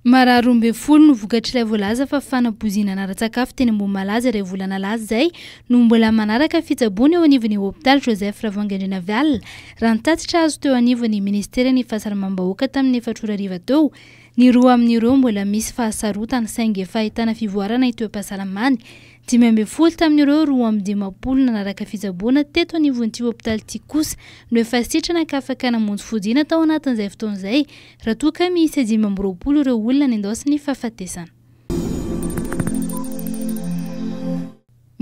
Marary roa ambin'ny folo no vokatr'ilay voalaza fa fanabozinana ara-tsakafo teny Ambohimalaza iray volana lasa izay no mbola manaraka fitsaboana eo anivon'ny hopitaly Joseph Ravangendrinaviala, raha ny tatitra azo teo anivon'ny minisiteran'ny Fahasalamam-bahoaka tamin'ny efatra ora hariva teo. Ny roa amin'ireo mbola misy fahasarotana saingy efa ahitana fivoarana ny toe-pahasalamany. Dimy ambin'ny folo tamin'ireo roa amby dimampolo nanaraka fitsaboana teto anivon'ity hopitaly ity kosa no efa sitrana ka afaka namonjy fodiana tao anatin'izay fotoana izay. Raha toa ka miisa dimy amby roapolo ireo olona nendaosin'ny fahafatesana.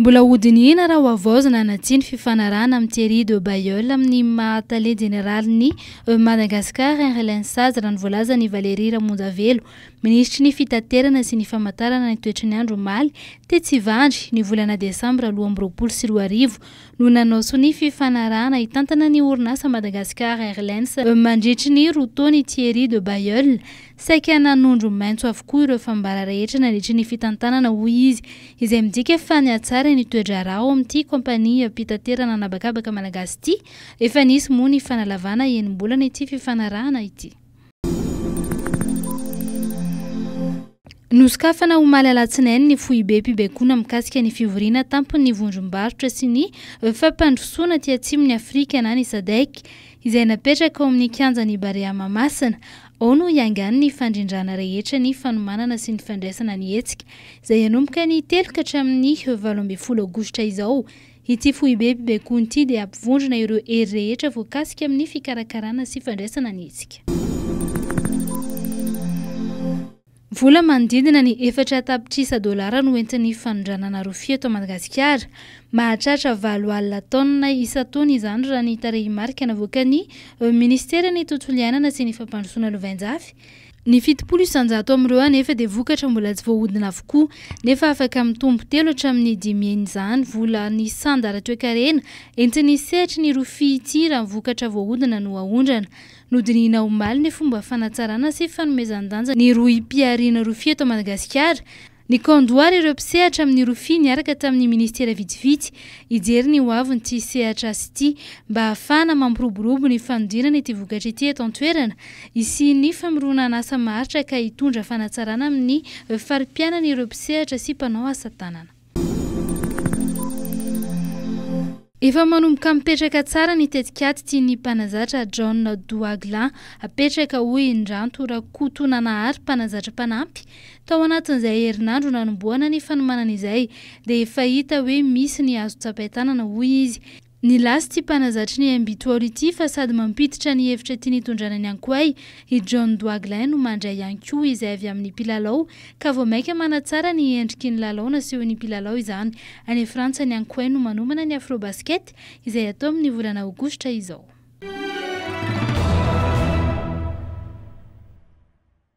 Mbola hodinihina raha hohavaozina na tsia ny fifanarahana amin'i Thierry de Bailleul amin'ny maha Tale Jeneralin'ny Madagascar Airlines sazy raha ny voalazan'i Valéry Ramonjavelo, Minisitry ny Fitaterana sy ny Famantarana ny toetry ny andro omaly, tetsy Ivandry, ny volana desambra roa amby roapolo sy roa arivo. no nanao sonia fifanarahana hitantana ny orinasa Madagascar Airlines mandritry ny roa taona i Thierry de Bailleul. Saika nanondro maitso avokoa ireo fambara rehetra nandritry ny fitantanana hoy izy, izay midika fa nihatsara ny toe-draharaha ao amin'ity kaompaniam-pitaterana an'habakabaka malagasy ity. Efa nisy moa ny fanalavana enim-bolana ity fifanarahana ity. Nosokafana omaly alatsinainy ny foibem-pibaikoana mikasika ny fivoriana tampon'ny vondrom-barotra sy ny fampandrosoana aty atsimon'i Afrika na ny Sadec izay napetraka ao amin'ny kianjan'i Barea Mahamasina. Ao no hiangany ny fandrindrana rehetra ny fanomanana sy ny fandraisana ny hetsika izay hanomboka ny telo ka hatramin'ny valo ambin'ny folo aogositra izao. Ity foibe mpibaikonty ity dia hampivondrona ireo hery rehetra voakasika amin'ny fikarakarana sy fandraisana ny hetsika. Vola manodidina ny efatra tapitrisa dolara no entin'ny fanondranana rofia eto Madagasikara. Mahatratra valo alina taonina isan-taona izany raha ny tarehimarika navoakan'ny Ministeran'ny Tontolo iainana sy ny Fampandrosoana Lovainjafy. Ny fitopolo isanjato amin'ireo anefa dia vokatra mbola tsy voahodina avokoa, nefa afaka mitombo telo hatramin'ny dimy heny izany. Vola nisy sanda ara-toekarena entin'ny sehatry ny rofia ity raha ny vokatra voahodina no aondrana. Nodinihina omaly ny fomba fanatsarana sy fanomezan-danja ny rohim-pihariana rofia eto Madagasikara. Nikando àry ireo mpisehatra amin'ny rofia niaraka tamin'ny minisitera vitsivitsy hijery ny hoavin'ity sehatra asa ity mba hahafahana mampiroborobo ny fanodinana ity vokatra ity eto an-toerana hisian'ny famoronan'asa maharitra ka hitondra fanatsarana amin'ny fari-piainan'ireo mpisehatra sy mpanao asa tanana. Efa manomboka mipetraka tsara ny tetikady tian'ny mpanazatra John Douagla hapetraka, hoy i Ndranto Rakotonanahary, mpanazatra mpanampy. Tao anatin'izay herinandro nanombohana ny fanomanana izay dia efa hita hoe misy ny azo tsapain-tanana, hoy izy. Nilaza ity mpanazatry ny Imbitoaolo ity fa sady mampiditra ny hevitra tiany hitondrana ny Ankoay i John Douagla no mandray ihany koa izay avy amin'ny mpilalao ka vao mainka manatsara ny endriky ny lalao nasehon'ny mpilalao izany. Any Frantsa ny Ankoay no manomana ny Afrobasket izay hatao amin'ny volana Aogositra izao.